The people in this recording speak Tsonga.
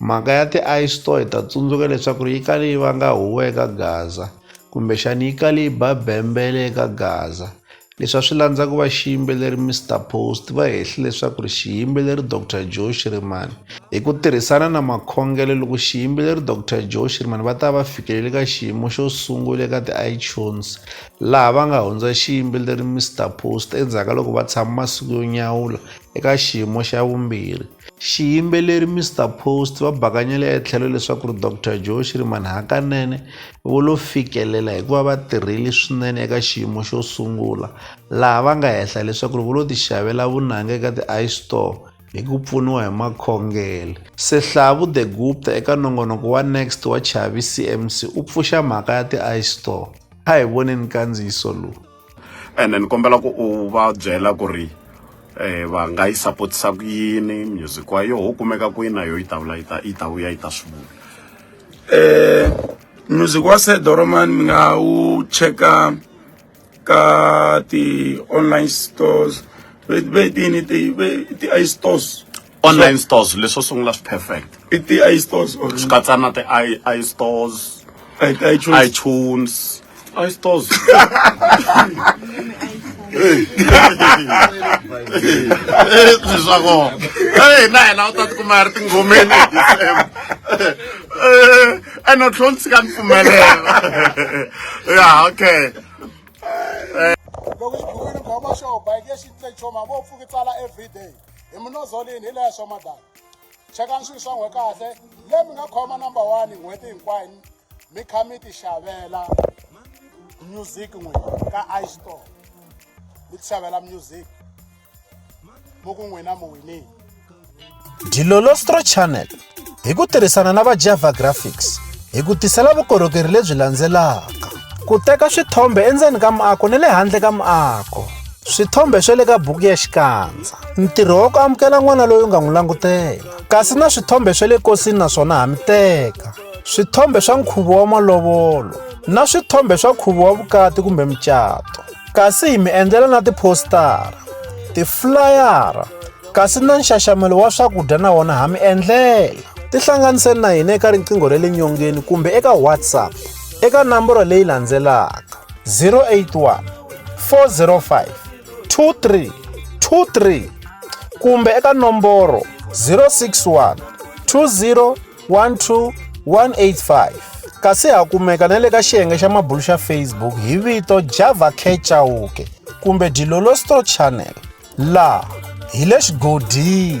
Mhaka ya ti-ice store hi ta tsundzuka leswaku ri yi kale yi vanga huwa eka Gaza kumbexani yi kale yi ba bembele eka Gaza leswi a swi landza ku va xiyimbeleri Mister Post va hehli leswaku ri xiyimbeleri Doctor Joe Shirimani hi ku tirhisana na makhongelo loko xiyimbeleri Doctor Joe Shirimani va ta va fikelele ka xiyimo xo sungula eka ti-iTunes laha va nga hundza xiyimbeleri Mister Post endzhaku ka loko va tshama masiku yo nyawula eka xiyimo xa vumbirhi Xiyimbeleri Mister Post va bakanyele etlhelo leswaku ri Doctor Joe Shirimani hakanene vo lo fikelela hikuva va tirhile swinene eka xiyimo xo sungula laha va nga hehla leswaku ri vo lo ti xavela vunanga eka ti iStore hi ku pfuniwa hi makhongele. Sehlavu De Gupta eka nongonoko wa Next wa Chavi CMC u pfuxa mhaka ya ti iStore. A hi voneni nkandziyiso lowu. ene ni kombela ku u va byela ku ri um va nga yi sapotisa ku yini music wa yoho wu kumeka kwini na yoho yi ta vula yi ta yi ta vuya yi ta swi vula um music wa sedoroman mi nga wu cheka ka ti-online stores ve ti-i stores online stores leswo sungula swi perfect i ti i stores or swi katsa na ti i i stores i ti i choose iTunes i stores leswi swa kona hey na hina u ta tikuma hi ri tinghomeni hi December ene u tlhela u tshika ni pfumelela ya okay loko xibukweni khoma xo bike ya xitlecho mavo pfuki tsala everyday hi minozolini hi leya swa madala chekani swilo swa n'we kahle le mi nga khoma number one n'hweti hinkwayo mi kha mi ti xavela music n'we ka istore mi ti xavela music mo ku n'wina mi winile dilolostro channel hi ku tirhisana na va java graphics hi ku tisela vukorhokeri lebyi landzelaka ku teka swithombe endzeni ka muako ni le handle ka muako swithombe swa le ka buku ya xikandza ntirho wa ku amukela n'wana loyi u nga n'wi langutela kasi na swithombe swa le kosini naswona ha mi teka swithombe swa nkhuvo wa malovolo na swithombe swa nkhuvo wa vukati kumbe mucato kasi hi mi endlela na tiphostara tiflayara kasi na nxaxamelo wa swakudya na wona ha mi endlela tihlanganiseni na hina eka riqingho ra le nyongeni kumbe eka whatsapp eka namboro leyi landzelaka 081 405 23 23 kumbe eka nomboro 061 20 12 185 kasi ha kumeka na le ka xiyenge xa mabulu xa facebook hi vito java kechauke kumbe dilolosto channel la hi le xigodini